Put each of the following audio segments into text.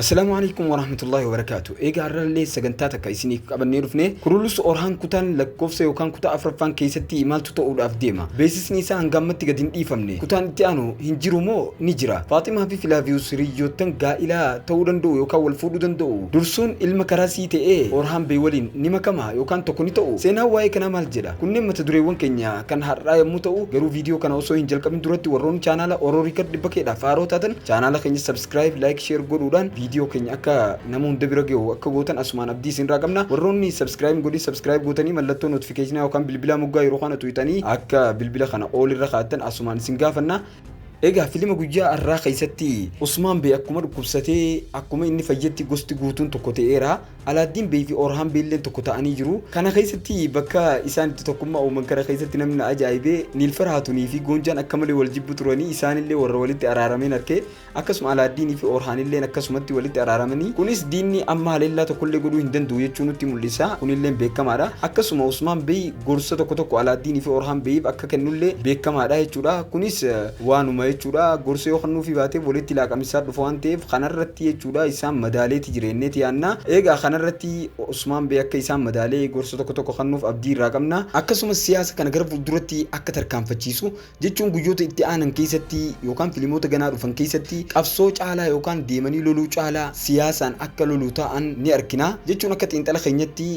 Assalaamu alaikum warahmatullahi wabarakaatu. Eegaa har'allee sagantaa takka isiniif qabannee dhufne Kurulus Orhaan kutaan lakkoofsa yookaan kutaa afraffaan keessatti maaltu ta'uudhaaf deema? Beeksisni isaa hanga ammatti gad hin dhiifamne. Kutaan itti aanu hin jiru moo ni jira? Faaximaa fi Filaaviyus hiriyyoottan gaa'ilaa ta'uu danda'u yookaan wal fuudhuu danda'u? Dursuun ilma karaa sii ta'ee Orhaan bee waliin ni makama yookaan tokko ni ta'u? Seenaan waa'ee kanaa maal jedha? Kunneen mata dureewwan keenya kan har'aa yammuu ta'u garuu viidiyoo kana osoo hin jalqabin duratti warroonni chaanaala Oro Record 100 dhaaf haaroo taatan chaanaala keenya subscribe like share godhuudhaan viidiyoo keenya akka nama hunda bira gahu akka gootan asumaan abdii isinirraa qabna warroonni subscribe godhin subscribe gootanii mallattoo notification yookaan bilbilaa moggaa yeroo kana tuyxanii akka bilbila kana all irra kaa'attan asumaan isin gaafanna Egaa filima guyyaa har'aa keessatti Usmaan Bee akkuma dhukkubsatee akkuma inni fayyetti gosti guutuun tokko ta'eera. Alaaddiin Bey fi Orhaan Bey illeen tokko ta'anii jiru. Kana keessatti bakka isaan itti tokkummaa uuman kana keessatti namni na ajaa'ibe Niilfar Haatunii fi Goonjaan akka malee wal jibbu turanii isaan illee warra walitti araarameen arke. Akkasuma Alaaddiinii fi Orhaan illeen akkasumatti walitti araaramanii. Kunis diinni amma haleellaa tokko illee godhuu hin danda'u jechuu nutti mul'isa. Kun illeen beekamaa dha. Akkasuma Usmaan Bey gorsa tokko tokko Alaaddiinii fi Orhaan Beyiif akka kennu illee beekamaa dha jechuu dha. Kunis waanuma jechuu dha. Gorsa yoo kennuufii baate walitti laaqaminsaan dhufa waan ta'eef kana irratti dha. Isaan madaalee ti jira jennee ti yaanna. Eegaa kana irratti Usmaan Bee akka isaan madaalee gorsa tokko tokko kannuuf abdii irraa qabna. Akkasumas siyaasa kana gara fuulduratti akka tarkaanfachiisu, jechuun guyyoota itti aanan keessatti yookaan filimoota ganaa dhufan keessatti qabsoo caalaa yookaan deemanii loluu caalaa siyaasaan akka lolu ta'an ni arkina. Jechuun akka xiinxala keenyatti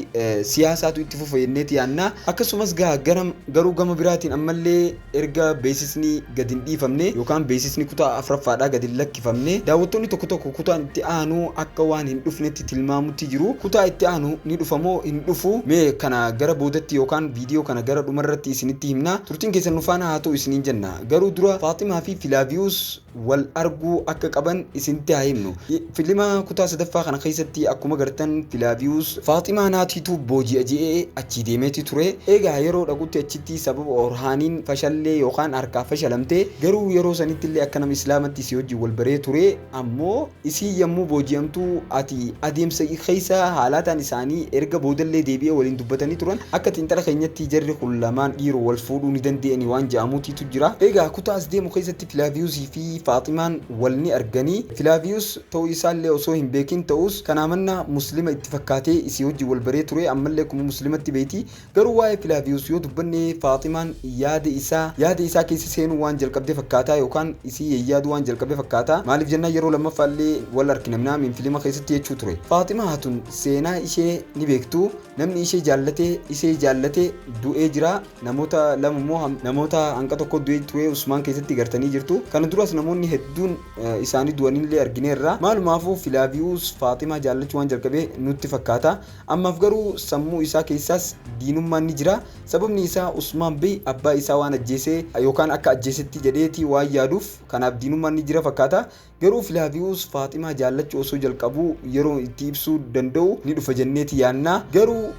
siyaasaatu itti fufa jennee ti yaanna. Akkasumas gaa garuu gama biraatiin ammallee. Erga beeksisni gad hin dhiifamne yookaan beeksisni kutaa 4ffaadhaa gad hin lakkifamne daawwattoonni tokko tokko kutaan itti aanu akka waan hin dhufnetti tilmaamutti jiru. Kutaa itti aanu ni dhufa moo hin dhufu? Mee kana gara boodatti yookaan viidiyoo kana gara dhumarratti isinitti himna. Turtiin keessan nu faana haa ta'u isiniin jenna. Garuu dura Faaximaa fi Filaaviyuus wal arguu akka qaban isinitti haa himnu. Filima kutaa sadaffaa kana keessatti akkuma gartan Filaaviyuus Faaximaa naatiitu booji'a je'ee achii deemeeti ture. Eegaa yeroo dhaqutti achitti sababa Orhaaniin fashallee yookaan harkaa fashalamte. Garuu yeroo sanittillee akka nama Islaamatti isii wajjin wal baree ture. Ammoo isiin yammuu booji'amtu ati adeemsa keessa haalaataan isaanii erga boodallee deebi'ee waliin dubbatanii turan akka xiinxala keenyatti jarri kun lamaan dhiiroo wal fuudhuu ni dande'ani waan je'amuutiitu jira. Eegaa kutaa as deemu keessatti. Filaaviyus fi Faaximaan wal ni argani. Filaaviyus ta'uu isaa illee osoo hin beekin ta'us, kanaa mannaa Muslima itti fakkaatee isii wajjin wal baree ture, amma illee akkuma Muslimatti beeyti. Garuu waa'ee Filaaviyus yoo dubbanne Faaximaan yaada isaa yaada isaa keessa seenuu waan jalqabde fakkaata yookaan isii yayyaaduu waan jalqabe fakkaata. Maaliif jennaan yeroo lammaffaa illee wal arkina minaa min filima keessatti jechuu ture. Faaximaa hatun seenaa ishee ni beektu. Namni ishee jaallate isee jaallate du'ee jira. Namoota lama immoo namoota hanga tokko du'e tu'ee Usmaan keessatti gartanii jirtu. Kana duras namoonni hedduun isaanii du'anillee argineerra. Maalumaafuu Filaaviyuus Faaximaa jaallachuu waan jalqabe nutti fakkaata. Ammaaf garuu sammuu isaa keessaas diinummaan ni jira. Sababni isaa Usmaan Bey abbaa isaa waan ajjeesee yookaan akka ajjeesetti jedheeti waan yaaduuf kanaaf diinummaan ni jira fakkaata. Garuu Filaaviyuus Faaximaa jaallachuu osoo jalqabuu yeroon itti ibsuu danda'u ni dhufa jenneeti yaanna. Garuu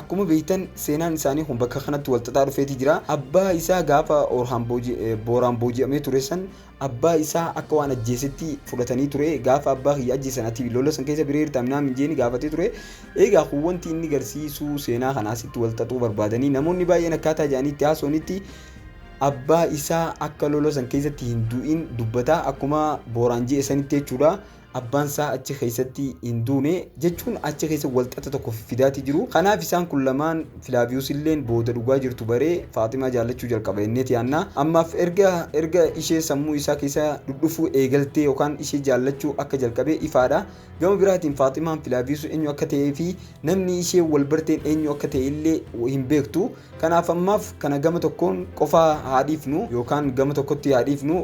akkuma beektan seenaan isaanii kun bakka kanatti walxaxaa dhufeeti jira. Abbaa isaa gaafa Orhaan Booraan booji'amee ture san abbaa isaa akka waan ajjeesetti fudhatanii ture. Gaafa abbaa kiyya ajjeesan ati lola san keessa biree hirtaa minaa min jeeni gaafatee ture. Egaa kun wanti inni garsiisuu seenaa kana asitti walxaxuu barbaadanii namoonni baay'een akkaataa jedhaniitti haasawanitti Abbaa isaa akka lola san keessatti hin du'in dubbata. Akkuma Booraan je'e sanitti jechuudha. Abbaan isaa achi keessatti hin duune jechuun achi keessa walxaxa tokko fidaatii jiru. Kanaaf isaan kun lamaan Filaaviyuus illeen booda dhugaa jirtu baree Faaximaa jaallachuu jalqaba jenneeti yaanna. Ammaaf erga erga ishee sammuu isaa keessa dhudhufuu eegaltee yookaan ishee jaallachuu akka jalqabe ifaadha. Gama biraatiin Faaximaan Filaaviisu eenyu akka ta'ee fi namni ishee wal barteen eenyu akka ta'e illee hin beektu. Kanaaf ammaaf kana gama tokkoon qofaa haa dhiifnu yookaan gama tokkotti haa dhiifnu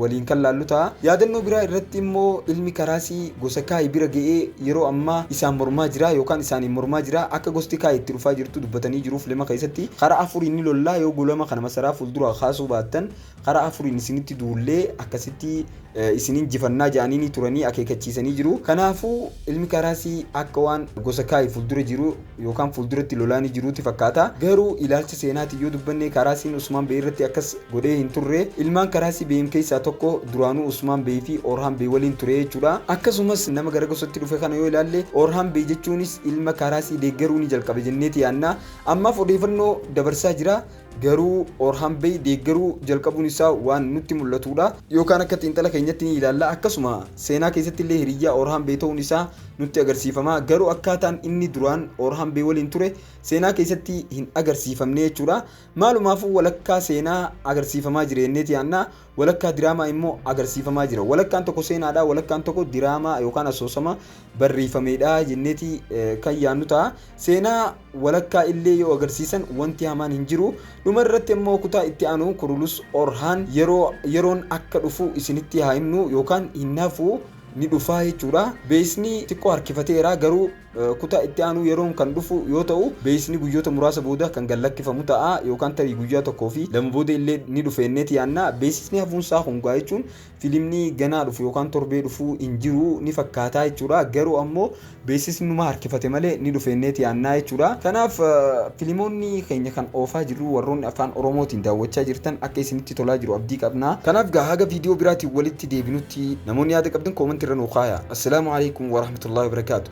waliin kan laallu ta'a. Yaadannoo biraa irratti immoo ilmi Karaasii gosa Kaayi bira ga'ee yeroo ammaa isaan mormaa jira yookaan isaaniin mormaa jira. Akka gosti Kaayi itti dhufaa jirtu dubbatanii jiru filima keessatti. Karaa afuriin ni lolla yoo gulama kana masaraa fuulduraa kaasuu baattan Karaa afuriin isinitti duullee akkasitti isin injifannaa jedhanii turanii akeekachiisanii jiru. Kanaafuu ilmi Karaasii akka waan gosa Kaayi fuuldura jiru yookaan fuulduratti lolaa ni jiruuti fakkaata. Garuu ilaalcha seenaatiin yoo dubbanne Karaasiin Usmaan Bey irratti akkas godhee hin turre. Ilmaan Karaasii Beyin keessaa tokko duraanuu Usmaan Bey fi Orhaan Bey waliin ture jechuudha. Akkasumas nama gara gosatti dhufe kana yoo ilaalle Orhaan Bey jechuunis ilma Karaasii deeggaruu ni jalqabe jenneeti yaadna. Ammaaf odeeffannoo dabarsaa jira. Garuu Orhan Bey deeggaruu jalqabuun isaa waan nutti mul'atuu dha. Yookaan akka xiinxala keenyatti ni ilaalla. Akkasuma seenaa keessatti illee hiriyyaa Orhan Bey ta'uun isaa nutti agarsiifama. Garuu akkaataan inni duraan Orhan Bey waliin ture seenaa keessatti hin agarsiifamne jechuu dha. Maalumaafuu walakkaa seenaa agarsiifamaa jira jenneeti yaadna. Walakkaa diraamaa immoo agarsiifamaa jira. Walakkaan tokko seenaadha, walakkaan tokko diraamaa yookaan asoosama barreeffameedha jenneeti kan yaannu ta'a. Seenaa walakkaa illee yoo agarsiisan wanti hamaan hin jiru. Dhuma irratti immoo kutaa itti aanu Kurulus Orhaan yeroo yeroon akka dhufu isinitti haa himnu yookaan hin hafu ni dhufaa jechuudha. Beeksisni xiqqoo harkifateera garuu Kutaa itti aanu yeroon kan dhufu yoo ta'u, beeksisni guyyoota muraasa booda kan gad lakkifamu ta'a yookaan tarii guyyaa tokkoo fi lama booda illee ni dhufeenneeti yaadna. Beeksisni hafuunsaa kun gaa jechuun filimni ganaa dhufu yookaan torbee dhufu hin jiru ni fakkaataa jechuudha. Garuu ammoo beeksisni numa harkifate malee ni dhufeenneeti yaadna jechuudha. Kanaaf filimoonni keenya kan oofaa jirru warroonni afaan oromootiin daawwachaa jirtan akka isinitti tolaa jiru abdii qabna. Kanaaf gaa haga viidiyoo biraatiin walitti deebinutti namoonni yaada qabdan koomantii irra nuu kaayaa. Assalaamu Aleykum Warahmatullahi Wabarakaatuh.